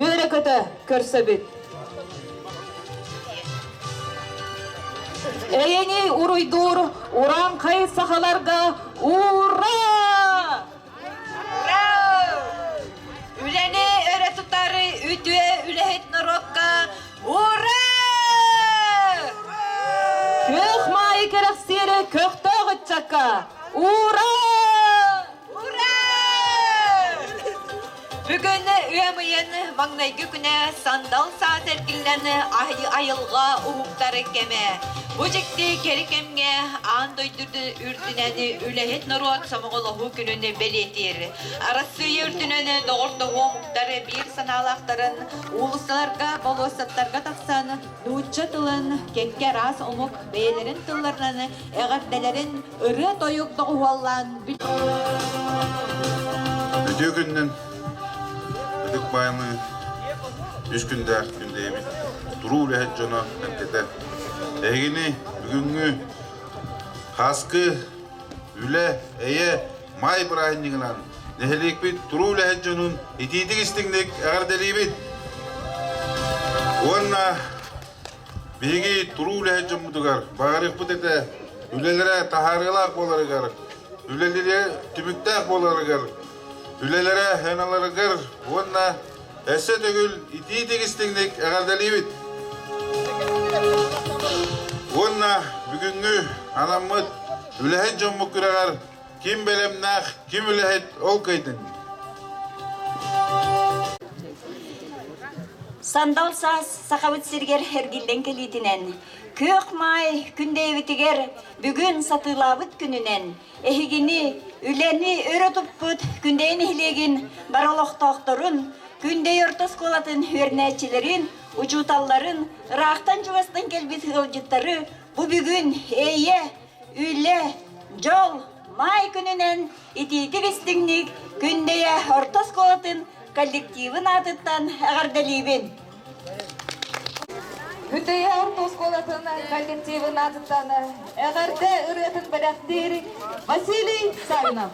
Үөрэкөтө көрсөбүт. Эйэни уруйдуур урааҥхай сахаларга ура! Үлэни өрө тутары үтүө үлэһит норуокка ура! Күөх маайы кэрэхсиэри көхтөөх ыччакка ура! Бүгүн ыам ыйын маҥнайгы күнэ сандал саас эргиллэн аһыы айылҕа уһуктары кэмэ. Бу дьикти кэрэ кэмҥэ аан дойдуну үрдүнэн үлэһит норуот сомоҕолоһуу күнүн бэлиэтиир. Арассыыйа үрдүнэн доҕордоһуу омуктар биир санаалаахтарын уулуссаларга, болуоссаттарга тахсан Нуучча тылын кэккэ араас омук бэйэлэрин тылларынан эҕэрдэлэрин ырыа-тойук доҕуһуоллаан Үтүө күнүнэн ытык баайымыы үс күннээх күндэйэбит туруу үлэһит дьоно эппитэ Эһигини бүгүҥҥү хааскы үлэ эйэ Маай бырааһынньыгынан нэһилиэкпит туруу үлэһит дьонун итиитик-истиҥник эҕэрдэлиибит уонна биһиги туруу үлэһит дьоммутугар баҕарыахпыт этэ үлэлэрэ таһаарыылаах буоларыгар үлэлэрэ түмүктээх буоларыгар үлэлэрэ сыаналарыгар уонна өссө төгүл итиитик-истиҥник эҕэрдэлиибит уонна бүгүҥҥү анаммыт үлэһит дьоммут күрэҕэр Ким бэлэмнээх, ким үлэһит, ол кыайтыныы. Сандал Сахабыт сиргэр эргиллэн кэлиитинэн, Күөх Маай күндэйбитигэр бүгүн сатыылаабыт күнүнэн, эһигини, үлэни өрө туппут Күндэйи нэһилиэгин бар олохтоохторун, Күндэйи орто оскуолатын үөрэнээччилэрин, учууталларын, ыраахтан-чугастан кэлбит ыалдьыттары бу бүгүн эйэ, Үлэ, дьол, маай күнүнэн итиитик истиҥник Күндэйэ орто оскуолатын коллективын аатыттан эҕэрдэлиибин! Күндэйэ орто оскуолатын коллективын аатыттан эҕэрдэ ырыатын бэлэхтиир Василий Сарнов.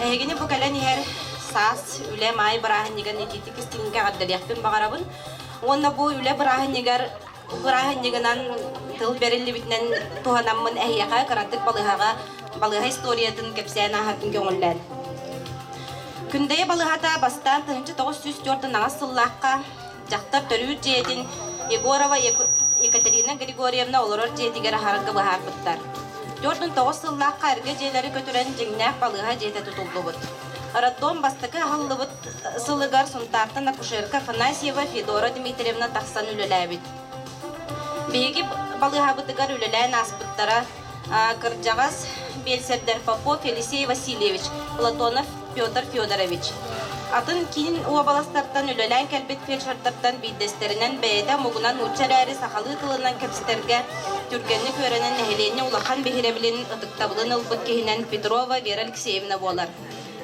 Эһигини бу кэлэн иһэр саас үлэ маай бырааһынньыгын ититии иккис түһүмэххэ эҕэрдэлиэхпин баҕарабын уонна бу үлэ бырааһынньыгар бырааһынньыгынан тыл бэриллибитинэн туһанаммын эһиэхэ кыратык балыыһаҕа балыыһа историятын кэпсээн ааһабын көҥүллээн күндэйэ балыыһата бастаан тыһыынча тоҕус сүүс түөрт аҥаас сыллаахха дьахтар төрүүр дьиэтин егорова екатерина григорьевна олорор дьиэтигэр аһарарга быһаарбыттар төрт мың тоҕус сыллаахха эргэ дьиэлэри көтүрэн дьиҥнээх балыыһа дьиэтэ тутуллубут роддом бастакы аһыллыбыт сылыгар Сунтаартан акушерка Афанасьева Федора Дмитриевна тахсан үлэлээбит. Биһиги балыыһабытыгар үлэлээн ааспыттара кырдьаҕас биэлсэрдэр Фопо Фелисей Васильевич, Платонов Петр Федорович. Атын киин уобаластартан үлэлээн кэлбит фельдшердартан биирдэстэринэн бэйэтэ омугунан нуучча эрээри сахалыы тылынан кэпсэтэргэ түргэнник үөрэнэн нэһилиэнньэ улахан биһирэбилин ытыктабылын ылбыт киһинэн Петрова Вера Алексеевна буолар.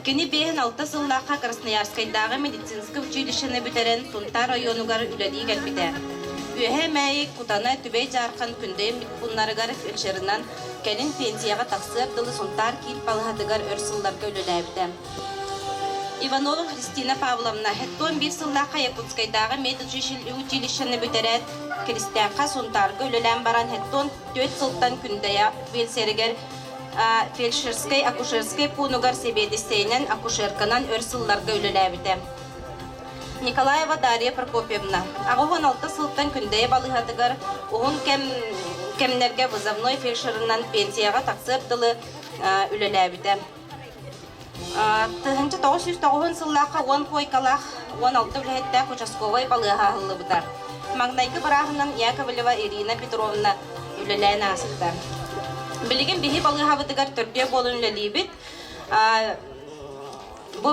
Кини биэһин-алта сыллаахха Красноярскайдааҕы медицинскэй училищены бүтэрэн Тунтар оройуонугар үлэлии кэлбитэ. Үөһээ Мэйик, Кутана, Түбэй Дьаархан күндэйэммит пууннарыгар вечерынан, кэлин пенсияҕа тахсыар дылы Сунтаар киин балыһатыгар өр сылларга үлэлээбитэ. Иванова Христина Павловна Хеттон биир сыллаахха Якутскайдааҕы медучилищены бүтэрээт, Киристээххэ Сунтаарга үлэлээн баран Хеттон түөрт сылтан Күндэйэ пенсиярыгар фельдшерскай-акушерскай пуунугар сэбиэдиссэйинэн, акушерканан өр сылларга үлэлээбитэ. Николаева Дарья Прокопьевна аҕыс уон алта сылтан Күндэйэ балыыһатыгар уһун кэм кэмнэргэ вызовной фельдшерынан пенсияҕа тахсыар дылы үлэлээбитэ. Тыһыынча тоҕус сүүс тоҕуһун сыллаахха уон куойкалаах, уон алта үлэһиттээх участковай балыыһа аһыллыбыта. Маҥнайгы бырааһынан Яковлева Ирина Петровна үлэлээн ааспыта. Билигин биһи балыыһабытыгар төрдүө буолан үлэлиибит. Бу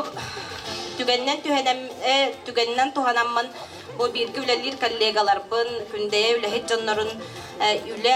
түгэннэн түгэнинэн туһанаммын бу бииргэ үлэлиир коллегаларбын, Күндэйэ үлэһит дьоннорун үлэ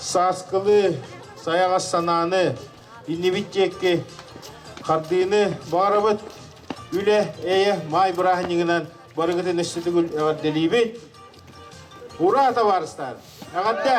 сааскылыы, сайаҕас санааны, иннибит диэки хардыыны баарабыт, үлэ, эйэ, маай бырааһынньыгынан барыгытын өссө төгүл эҕэрдэлиибит. Ура, табаарыстар! Эҕэрдэ!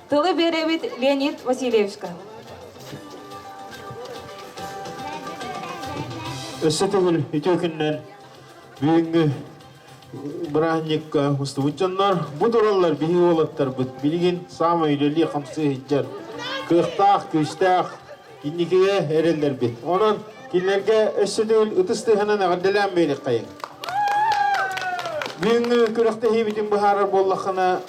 Тылы биэрэбит Леонид Васильевичка. Өссө төгүл үтүө күннэр бүгүҥҥү бырааһынньыкка мустубут дьоннор бу тураллар биһи уолаттарбыт билигин саамай үлэлии хамсыы сылдьар кыахтаах күүстээх инникигэ эрэллэрбит онон кинилэргэ өссө төгүл ытыс тыаһынан эҕэрдэлээн биэриэххэйиҥ бүгүҥҥү күрэхтэһиибитин быһаарар буоллаххына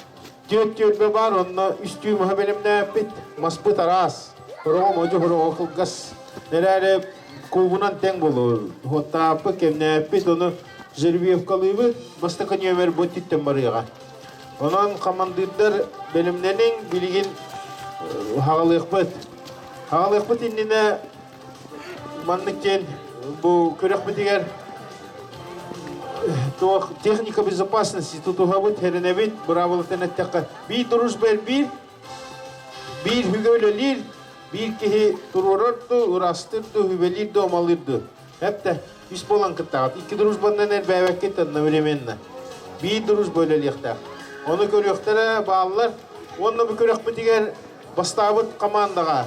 Дьиэт түөлбэ баар, онно үстүү маһы бэлэмнээппит. Маспыт араас. Хороҕо модьу хороҕо кылгас. Эрээри куубунан тэҥ болор. Уоттааппыт, кэмнээппит, ону жеребьевкалыыбыт, бастакы нүөмэр бу өттүттэн барыаҕа. Онон хамандыырдар бэлэмнэниҥ, билигин хаҕалыахпыт. Хаҕалыахпыт иннинэ Маннык диэн бу күрөхпүтүгэр туох техника безопасности тутуһабыт, хэрэнэбит, быраабылатын эттэххэ, биир дружба эрбиир, биир үһүгэ үлэлиир, биир киһи туруорар да, ыраастыыр да, үбэлиир да, омалыыр да. Эптэ, үс болан кыттаҕыт. Икки дружбаннан эрбээбэккит одновременно. Биир дружба үлэлиэхтээх. Ону көрүөхтэрэ бааллар. Уонна бу күрөхпүтүгэр бастаабыт командаҕа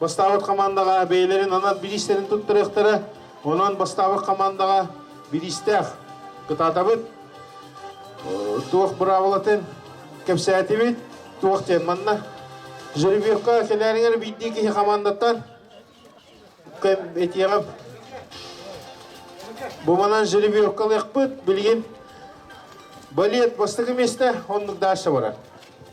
Бастаабыт хамаандаҕа бэйэлэрин анар билиистэрин туттарыахтара. Онон бастаабыт хамаандаҕа билиистээх кытаатабыт. Туох быраабылатын кэпсээтибит, туох диэн манна. Жеребьевка кэнээрингэр биирдии киһи хамаандаттан этиэҕим. Буманан жеребьевка ылыахпыт, билигин балет бастакы место, оннук дальше барар.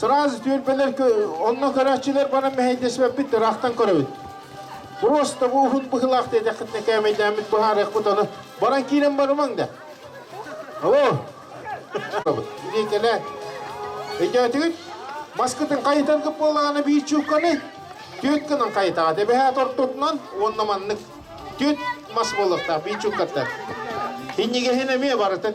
Сразу түөлбэлэр онно көрөөччүлэр баран мэһэйдэсибэппит ыраахтан көрөбүт. Просто бу уһун быһылаах диэтэххитинэ кээмэйдээммит быһаарыахпыт ону баран киирэн барымаҥ да. Алло. Билиикэлэ. Өйдөөтүгүт? Маскытын хайытаргы буолаҕына биир чуукканы түөт гынан хайытаҕа дэбэһэт ортотунан уонна маннык түөт мас буолуохтаах биир чууккаттан. Иннигэһин эмиэ барытын.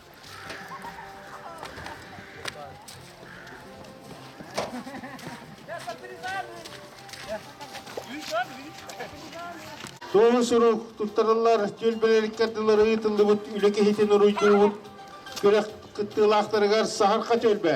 Суолу сурук туттарыллар түөлбэлэриккэрдылары ыытыллыбыт үлэ киһитин уруйдуубут күрэх кыттыылаахтарыгар саһарха төлбө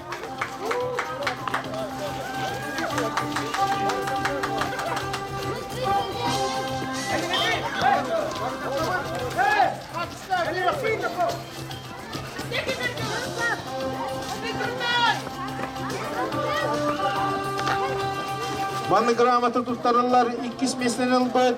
Манна грамота туттарыллар иккис мессенин ылбыт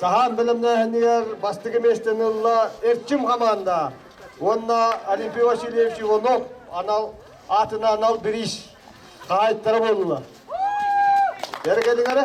Саһаан бэлэмнээһинигэр бастакы миэстэни ылла Эрчим хамаанда уонна Олимпий Васильевич Иванов анал аатына анал бириис хаайтара буолла. Эргэлиҥ эрэ.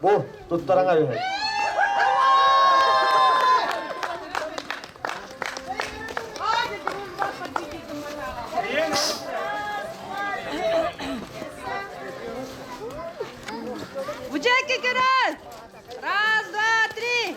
Бу туттараҥа үһү. Бужайки вперед! Раз, два, три!